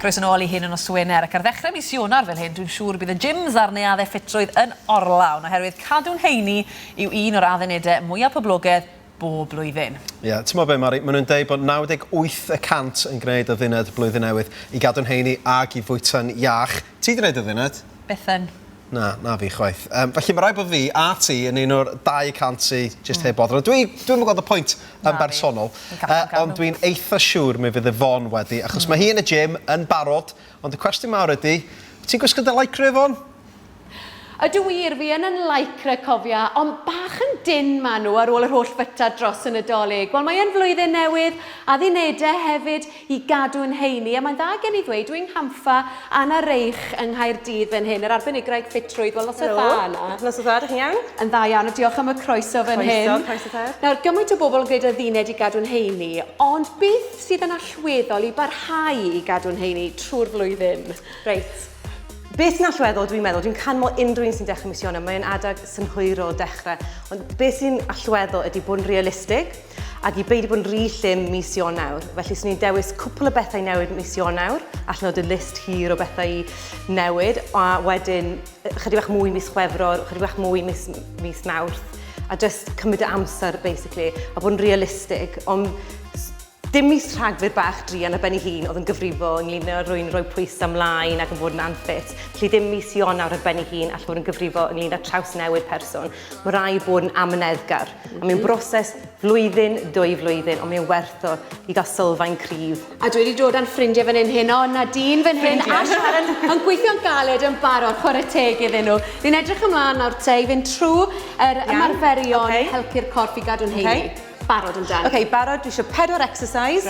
Croes yn ôl i hyn yn nos Wener ac ar ddechrau mis Ionawr fel hyn, dwi'n siŵr bydd y gyms a'r neuaddau ffitrwydd yn orlawn oherwydd cadw'n heini yw un o'r addunedau mwyaf poblogedd bob blwyddyn. Ie, yeah, ti'n mo be Mari, maen nhw'n dweud bod 98 y cant yn gwneud adduned Blwyddyn Newydd i gadw'n heini ac i fwyta'n iach. Ti 'di wneud o Ddinet? Bythen. Na, na fi chwaith. Um, felly mae rhaid bod fi a ti yn un o'r 200 sy jyst mm. heb boddran. Dwi, dwi'n yn gweld y pwynt yn bersonol, uh, ond dwi'n eitha siŵr mi fydd y fon wedi, achos mm. mae hi yn y gym yn barod, ond y cwestiwn mawr ydy, ti'n gwisgo dy lycra efo? Ydw wir, fi yn yn lycra cofia, ond bach yn dyn maen nhw ar ôl yr holl fyta dros y Nadolig. Wel, mae yn flwyddyn newydd, addunedau hefyd, i gadw yn heini, a mae'n dda gen i ddweud, Wing Hampha, Anna Reich yng Nghaerdydd fan hyn, yr arbenigraid ffitrwydd, wel noswaith dda Anna. Helo, noswaith dda, dych chi'n iawn? Yn dda iawn, a diolch am y croeso fan hyn. Croeso, croeso te. Nawr, gymaint o bobl yn gwneud y ddined i gadw'n heini, ond beth sydd yn allweddol i barhau i gadw'n heini trwy'r flwyddyn? Reit. Beth sy'n allweddol, dwi'n meddwl, dwi'n can mo unrhyw un sy'n dechrau mis Ionawr, mae'n adeg synhwyrol dechrau, ond beth sy'n allweddol ydy bod yn realistig, Ac i beidio bod yn rhy llym mis Ionawr, felly swn i'n dewis cwpl o bethau newid mis Ionawr, allan o dy list hir o bethau i newid, a wedyn chydig bach mwy mis Chwefror, chydig bach mwy mis, mis Mawrth, a just cymryd y amser, basically, a bod yn realistig, ond dim mis rhagfyr bach drian a ben ei hun oedd yn gyfrifol ynglyn â rwy'n rhoi pwysau ymlaen ac yn bod yn anffit. Felly dim mis Ionawr ar ben ei hun all fod yn gyfrifol ynglyn â traws newid person. Mae rai bod yn amyneddgar, a mae'n broses flwyddyn, dwy flwyddyn, ond mae'n werth o i gael sylfaen cryf. A dwi wedi dod â'n ffrindiau fan hyn heno, Nadine fan hyn a Sharon yn gweithio'n galed yn barod, chwarae teg iddyn nhw. Ni'n edrych ymlaen nawr te i fynd trwy yr ymarferion okay. helpu'r corff i gadw'n heini. Okay. Barod yn dan. OK, barod, dwi eisiau pedwar exercise.